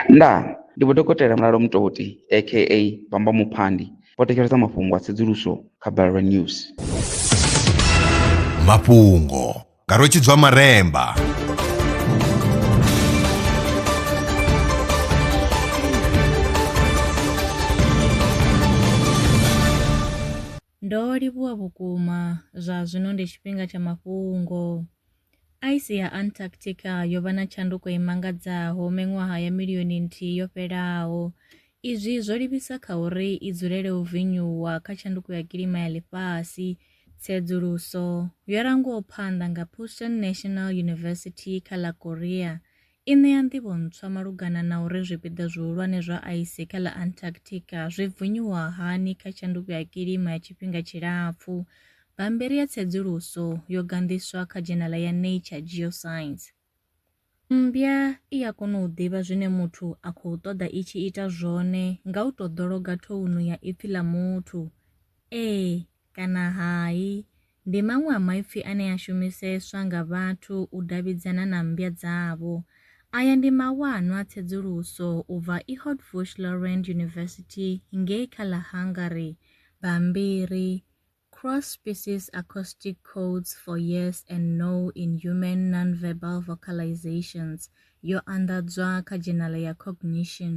Ndaa! Ndi Vho Dokotela Mulalo Mutoti aka Bamba Muphandi vho thetshelesa mafhungo a tsedzuluso kha Balelwa News. Mafhungo nga Rwetshidzwa Maremba. Ndo livhuwa vhukuma. Zwa zwino ndi tshifhinga tsha mafhungo. Aisi ya Antarctica yo vha na tshanduko i mangadzaho miṅwaha ya milioni nthihi yo fhelaho. Izwi zwo livhisa kha uri i dzulele u vinyuwa kha tshanduko ya kilima ya ḽifhasi. Tsedzuluso yo rangwaho phanḓa nga Pusan National University kha ḽa Korea I ṋea nḓivho ntswa malugana na uri zwipiḓa zwihulwane zwa aisi kha ḽa Antarctica zwi bvunyiwa hani kha tshanduko ya kilima ya tshifhinga tshilapfu. Bammbiri ya tsedzuluso yo ganḓiswa kha dzhenaḽa ya Nature Geoscience. Mmbya i a kona u ḓivha zwine muthu a khou ṱoḓa i tshi ita zwone nga u tou ḓologa thounu ya ipfi ḽa muthu, ee kana hai. Ndi maṅwe a maipfi ane a shumiseswa nga vhathu u davhidzana na mmbya dzavho. Aya ndi mawanwa a tsedzuluso u bva Eötvös-Loránd University ngei kha ḽa Hungary, bammbiri, Cross-Species Acoustic Codes for Yes and No in Human Nonverbal Vocalizations, yo anḓadzwa kha dzhenala ya Cognition.